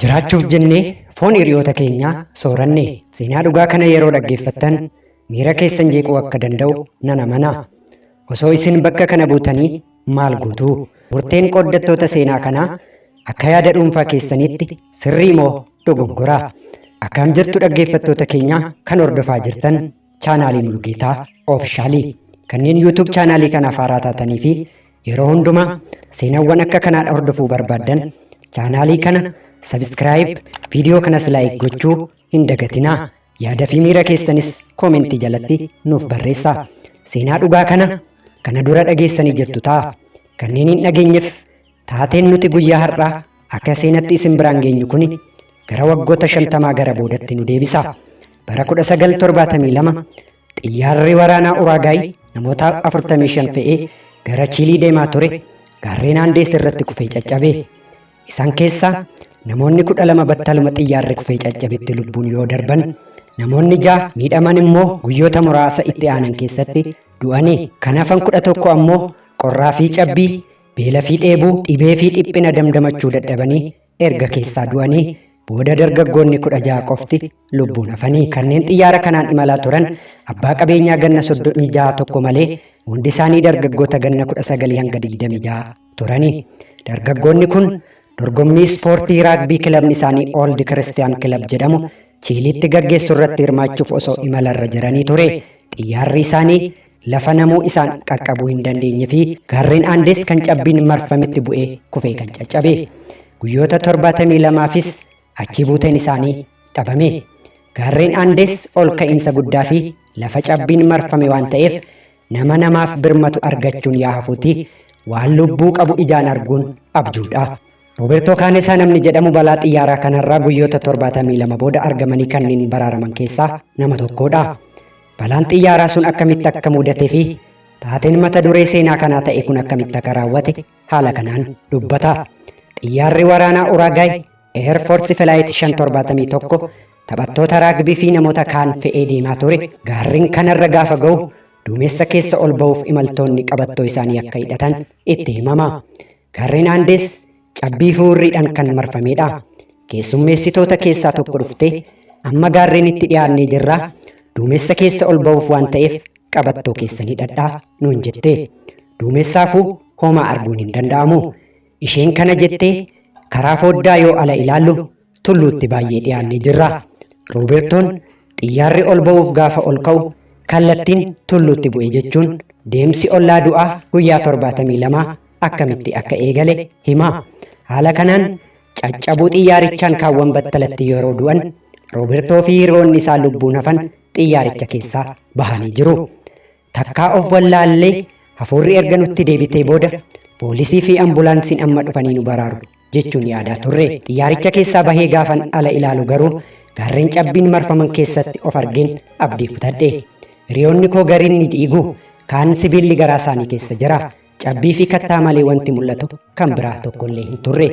Jiraachuuf jennee foon hiriyoota keenyaa sooranne. Seenaa dhugaa kana yeroo dhaggeeffattan miira keessan jeequu akka danda'u nan amana. Osoo isin bakka kana buutanii maal gootu? Murteen qooddattoota seenaa kanaa akka yaada dhuunfaa keessaniitti sirrii moo dogongora? Akkaam jirtu dhaggeeffattoota keenyaa kan hordofaa jirtan Chaanaalii Mulugeetaa Oofishaalii kanneen YouTube chaanaalii kanaaf haaraa taatanii fi yeroo hundumaa seenawwan akka kanaa hordofuu barbaaddan chaanaalii kana sabiskiraayib viidiyoo kanas laayik gochuu hin dagatinaa yaada fi miira keessanis koomentii jalatti nuuf barreessaa seenaa dhugaa kana kana dura dhageessanii jirtu ta'a kanneen hin dhageenyeef Taateen nuti guyyaa har'aa akka seenatti isin biraan geenyu kuni gara waggoota shantamaa gara boodatti nu deebisa. Bara 1972 xiyyaarri waraanaa Uraagaay namoota 45 fe'ee gara Chiilii deemaa ture gaarreen Aandees irratti kufee caccabe. Isaan keessaa namoonni 12 battaluma xiyyaarri kufee caccabetti lubbuun yoo darban namoonni 6 miidhaman immoo guyyoota muraasa itti aanan keessatti du'anii kan hafan 11 ammoo qorraa fi cabbii beela fi dheebuu, dhibee fi dhiphina damdamachuu dadhabanii erga keessaa du'anii booda dargaggoonni 16 qofti lubbuun hafanii. Kanneen xiyyaara kanaan imalaa turan abbaa qabeenyaa ganna 36 tokko malee hundi isaanii dargaggoota ganna 19 hanga 26 turani. Dargaggoonni kun dorgommii ispoortii raagbii kilabni isaanii Old Christian Club jedhamu Chiiliitti gaggeessu irratti hirmaachuuf osoo imalarra jiranii ture xiyyaarri isaanii Lafa namuu isaan qaqqabuu hin dandeenye fi gaarreen Aandees kan cabbiin marfametti bu'ee kufee kan caccabe. Guyyoota 72fis achii buuteen isaanii dhabame. Gaarreen Aandees ol ka'iinsa guddaa fi lafa cabbiin marfame waan ta'eef nama namaaf birmatu argachuun yaa hafuuti waan lubbuu qabu ijaan arguun abjuudha. Robertoo Kaanesaa namni jedhamu balaa xiyyaaraa kanarraa guyyoota 72 booda argamanii kanneen baraaraman keessaa nama tokkodha. Balaan xiyyaaraa sun akkamitti akka mudatee fi taateen mata duree seenaa kanaa ta'e kun akkamitti akka raawwate haala kanaan dubbata. Xiyyaarri waraanaa Uraagaay Air Force Flight 571 taphattoota raagbii fi namoota kaan fe'ee deemaa ture gaarreen kanarra gaafa ga'u duumessa keessa ol ba'uuf imaltoonni qabattoo isaanii akka hidhatan itti himama. Gaarreen Aandees cabbii fi hurriidhaan kan marfameedha. Keessummeessitoota keessaa tokko dhuftee amma gaarreenitti dhiyaannee jirra. Duumessa keessa ol ba'uuf waan ta'eef qabattoo keessan hidhadhaa nuun jette. Duumessaafuu homaa arguun hin danda'amu. Isheen kana jettee karaa fooddaa yoo ala ilaallu tulluutti baay'ee dhiyaannee jirra. Roobertoon xiyyaarri ol ba'uuf gaafa ol ka'u kallattiin tulluutti bu'e jechuun deemsi ollaa du'aa guyyaa 72 akkamitti akka eegale hima. Haala kanaan caccabuu xiyyaarichaan kaawwan battalatti yeroo du'an Roobertoo fi hiriyoonni isaa lubbuun hafan xiyyaaricha keessaa bahanii jiru. Takkaa of wallaallee hafuurri erga nutti deebitee booda poolisii fi ambulaansiin amma dhufanii nu baraaru jechuun yaadaa turre. Xiyyaaricha keessaa bahee gaafan ala ilaalu garuu gaarreen cabbiin marfaman keessatti of argeen abdii kutadhe. Hiriyoonni koo gariin ni dhiigu, kaan sibiilli garaa isaanii keessa jira. Cabbii fi kattaa malee wanti mul'atu kan biraa tokkollee hin turre.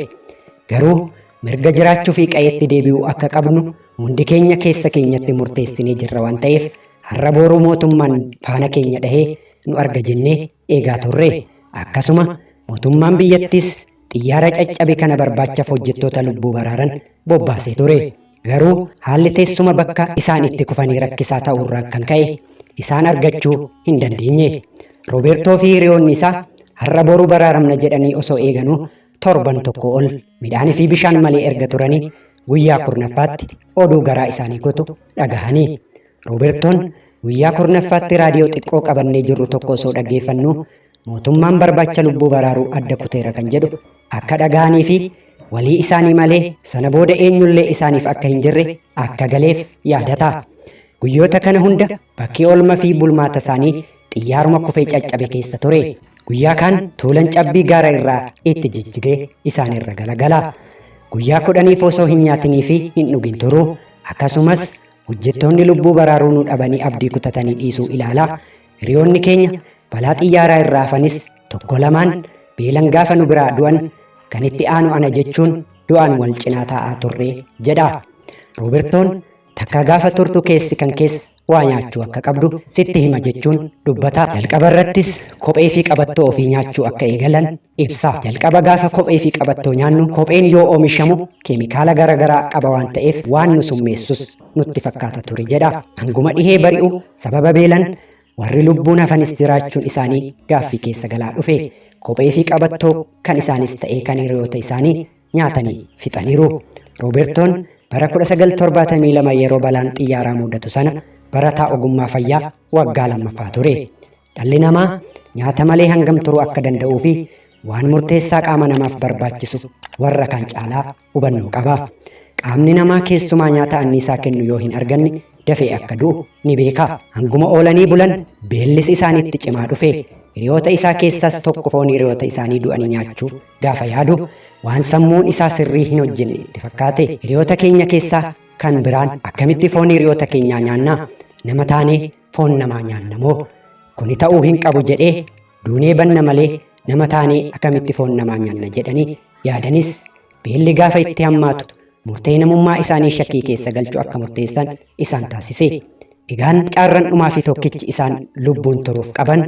Garuu mirga jiraachuu fi qa'eetti deebi'uu akka qabnu hundi keenya keessa keenyatti murteessinee jirra waan ta'eef har'a booruu mootummaan faana keenya dhahee nu arga jennee eegaa turre. Akkasuma mootummaan biyyattiis xiyyaara caccabe kana barbaachaaf hojjettoota lubbuu baraaran bobbaasee ture. Garuu haalli teessuma bakka isaan itti kufanii rakkisaa ta'uurraan kan ka'e isaan argachuu hin dandeenye. Robeertoo fi hiriyoonni isaa har'a boru baraaramna jedhanii osoo eeganuu torban tokko ol midhaanii fi bishaan malee erga turanii guyyaa kurnaffaatti oduu garaa isaanii gotu dhagahanii Robertoon guyyaa kurnaffaatti raadiyoo xiqqoo qabannee jirru tokko osoo dhaggeeffannu mootummaan barbaacha lubbuu baraaruu adda kuteera kan jedhu akka dhaga'anii fi walii isaanii malee sana booda eenyullee isaaniif akka hin jirre akka galeef yaadata. Guyyoota kana hunda bakki oolma fi bulmaata isaanii xiyyaaruma kufee caccabe keessa ture. Guyyaa kaan tuulan cabbii gaara irraa itti jijjigee isaanirra galagala. Guyyaa kudhaniif osoo hin nyaatinii fi hin dhugin turu. Akkasumas Hojjettoonni lubbuu baraaruu nu dhabanii abdii kutatanii dhiisuu ilaalaa hiriyoonni keenya balaa xiyyaaraa irraa hafanis tokko lamaan beelan gaafa nu biraa du'an kan itti aanu ana jechuun du'aan wal cinaa taa'aa turre jedha. Roobertoon takka gaafa turtu keessi kan keessa waa nyaachuu akka qabdu sitti hima jechuun dubbata. Jalqaba irrattis kophee fi qabattoo ofii nyaachuu akka eegalan Ibsa. Jalqaba gaafa kophee fi qabattoo nyaannu kopheen yoo oomishamu keemikaala gara garaa qaba waan ta'eef waan nu summeessus nutti fakkaata ture jedha. Hanguma dhihee bari'u sababa beelan warri lubbuun hafanis jiraachuun isaanii gaaffii keessa galaa dhufe. Kophee fi qabattoo kan isaanis ta'ee kan hiriyoota isaanii nyaatanii fixaniiru. Roobertoon bara 1972 yeroo balaan xiyyaaraa muudatu sana barataa ogummaa fayyaa waggaa lammaffaa ture. Dhalli namaa nyaata malee hangam turuu akka danda'uu fi waan murteessaa qaama namaaf barbaachisu warra kaan caalaa hubannoo qaba. Qaamni namaa keessumaa nyaata anniisaa kennu yoo hin arganne dafee akka du'u ni beeka. Hanguma oolanii bulan beellis isaanitti cimaa dhufe. Hiriyoota isaa keessaas tokko foon hiriyoota isaanii du'anii nyaachuu gaafa yaadu waan sammuun isaa sirrii hin hojjenne itti fakkaate. Hiriyoota keenya keessaa kan biraan akkamitti foon hiriyoota keenyaa nyaanna? Nama taanee foon namaa nyaanna moo? Kuni ta'uu hin qabu jedhee duunee banna malee nama taanee akkamitti foon namaa nyaanna jedhanii yaadanis beelli gaafa itti hammaatu murtee namummaa isaanii shakkii keessa galchu akka murteessan isaan taasise. Egaan caarran dhumaa fi tokkichi isaan lubbuun turuuf qaban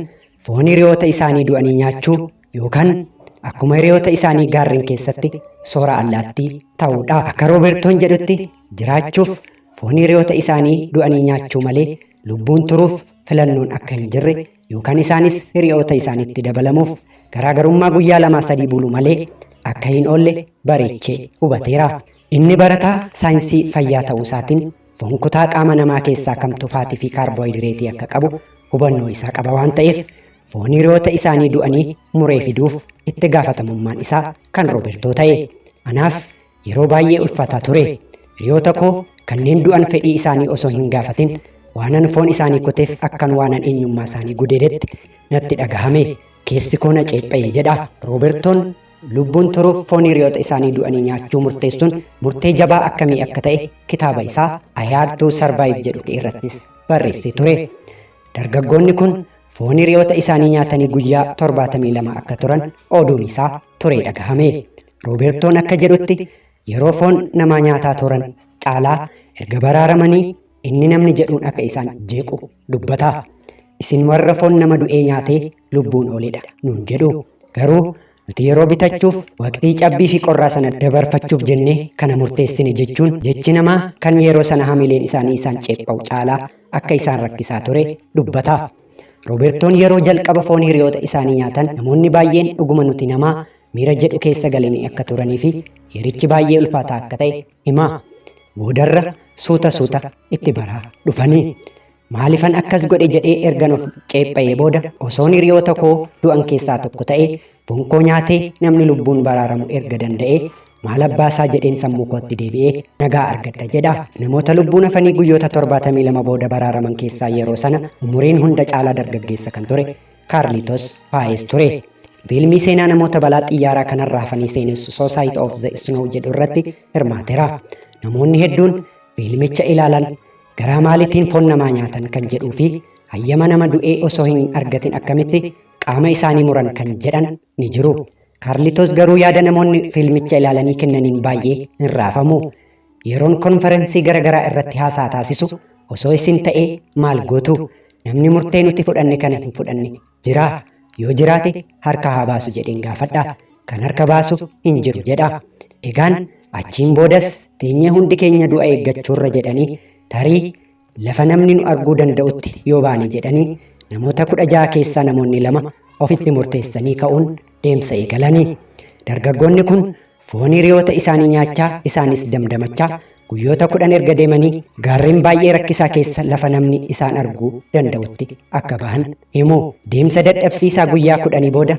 foon hiriyoota isaanii du'anii nyaachuu Yookaan akkuma hiriyoota isaanii gaarreen keessatti soora allaattii ta'uudha. Akka Roobertoon jedhutti jiraachuuf foon hiriyoota isaanii du'anii nyaachuu malee lubbuun turuuf filannoon akka hin jirre yookaan isaanis hiriyoota isaaniitti dabalamuuf garaagarummaa guyyaa lamaa sadii bulu malee akka hin oolle bareechee hubateera. Inni barataa saayinsii fayyaa ta'uu isaatiin foon kutaa qaama namaa keessaa kamtu faatii fi kaarboohidireetii akka qabu hubannoo isaa qaba waan ta'eef foon hiriyoota isaanii du'anii muree fiduuf itti gaafatamummaan isaa kan Roobertoo ta'e. Anaaf yeroo baay'ee ulfaataa ture. Hiriyoota koo kanneen du'an fedhii isaanii osoo hin gaafatin waanan foon isaanii kuteef akkan waanan eenyummaa isaanii gudeedetti natti dhagahame. Keessi koo na ceepha'e jedha. Roobertoon lubbuun turuuf foon hiriyoota isaanii du'anii nyaachuu murteessuun murtee jabaa akkamii akka ta'e kitaaba isaa I Had to Survive jedhu irrattis barreessee ture. Dargaggoonni kun Foon hiriyoota isaanii nyaatanii guyyaa 72 akka turan oduun isaa turee dhagahame. Roobertoon akka jedhutti yeroo foon namaa nyaataa turan caalaa erga baraaramanii inni namni jedhuun akka isaan jeequ dubbata. Isin warra foon nama du'ee nyaatee lubbuun oolidha nuun jedhu. Garuu Nuti yeroo bitachuuf waqtii cabbii fi qorraa sana dabarfachuuf jennee kana murteessine jechuun jechi namaa kan yeroo sana hamileen isaanii isaan ceepha'u caalaa akka isaan rakkisaa ture dubbata. Roobertoon yeroo jalqaba foon hiriyoota isaanii nyaatan namoonni baay'een dhuguma nuti namaa miira jedhu keessa galanii akka turanii fi yerichi baay'ee ulfaataa akka ta'e hima. Boodarra suuta suuta itti baraa dhufanii. Maalifan akkas godhe jedhee ergan of ceepha'ee booda osoon hiriyoota koo du'an keessaa tokko ta'e foon koo nyaatee namni lubbuun baraaramu erga danda'ee maal abbaasaa jedheen sammuu kootti deebi'ee nagaa argadha jedha. Namoota lubbuun hafanii guyyoota 72 booda baraaraman keessaa yeroo sana umuriin hunda caalaa dargaggeessa kan ture Kaarlitos Paayees ture. Fiilmii seenaa namoota balaa xiyyaaraa kanarraa hafanii seenessu Society of the Snow jedhu irratti hirmaatera. Namoonni hedduun fiilmicha ilaalan Garaa maalitiin foon namaa nyaatan kan jedhuu fi hayyama nama du'ee osoo hin argatin akkamitti qaama isaanii muran kan jedhan ni jiru. Kaarlitoos garuu yaada namoonni fiilmicha ilaalanii kennaniin baay'ee hin raafamu. Yeroon konferensii garaagaraa irratti haasaa taasisu osoo isin ta'ee maal gootu? Namni murtee nuti fudhanne kana hin fudhanne Jiraa? Yoo jiraate harka haa baasu jedheen gaafadha. Kan harka baasu hin jiru jedha. Egaan achiin boodas teenyee hundi keenya du'a eeggachuurra jedhanii tarii lafa namni nu arguu danda'utti yoo baane jedhanii namoota kudha ja'a keessaa namoonni lama ofitti murteessanii ka'uun deemsa eegalanii. Dargaggoonni kun Foon hiriyoota isaanii nyaachaa isaanis damdamachaa guyyoota kudhan erga deemanii gaarreen baay'ee rakkisaa keessa lafa namni isaan arguu danda'utti akka bahan himu. Deemsa dadhabsiisaa guyyaa kudhanii booda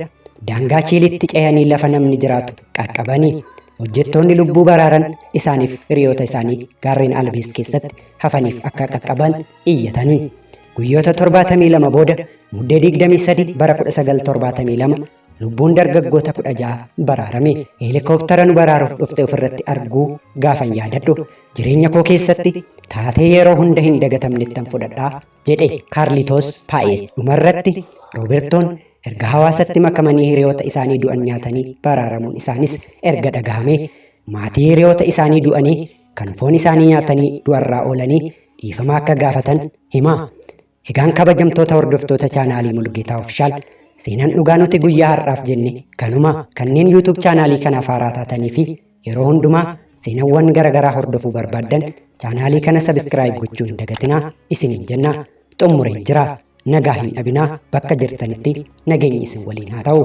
daangaa Chiiliitti ce'anii lafa namni jiraatu qaqqabanii hojjettoonni lubbuu baraaran isaaniif hiriyoota isaanii gaarreen Albees keessatti hafaniif akka qaqqaban iyyatanii. Guyyoota 72 booda muddee 23 bara 1972 Lubbuun dargaggoota kudha ja'a baraarame heelikooptara nu baraaruuf dhufte ofirratti arguu gaafan yaadadhu jireenya koo keessatti taatee yeroo hunda hin dagatamnettan fudhadha jedhe Kaarlitoos Paayes. Dhumarratti Roobertoon erga hawaasatti makamanii hiriyoota isaanii du'an nyaatanii baraaramuun isaanis erga dhagahame maatii hiriyoota isaanii du'anii kan foon isaanii nyaatanii du'arraa oolanii dhiifama akka gaafatan hima. Egaan kabajamtoota hordoftoota chaanaalii Mulgeetaa Ofishaal seenaan dhugaa nuti guyyaa har'aaf jenne kanuma kanneen YouTube chaanaalii kanaaf haaraa taatanii fi yeroo hundumaa seenawwan garaagaraa hordofuu barbaaddan chaanaalii kana sabiskiraayib gochuu hin dagatinaa isiniin jenna xumureen jira nagaa hin dhabinaa bakka jirtanitti nageenyi isin waliin haa ta'u.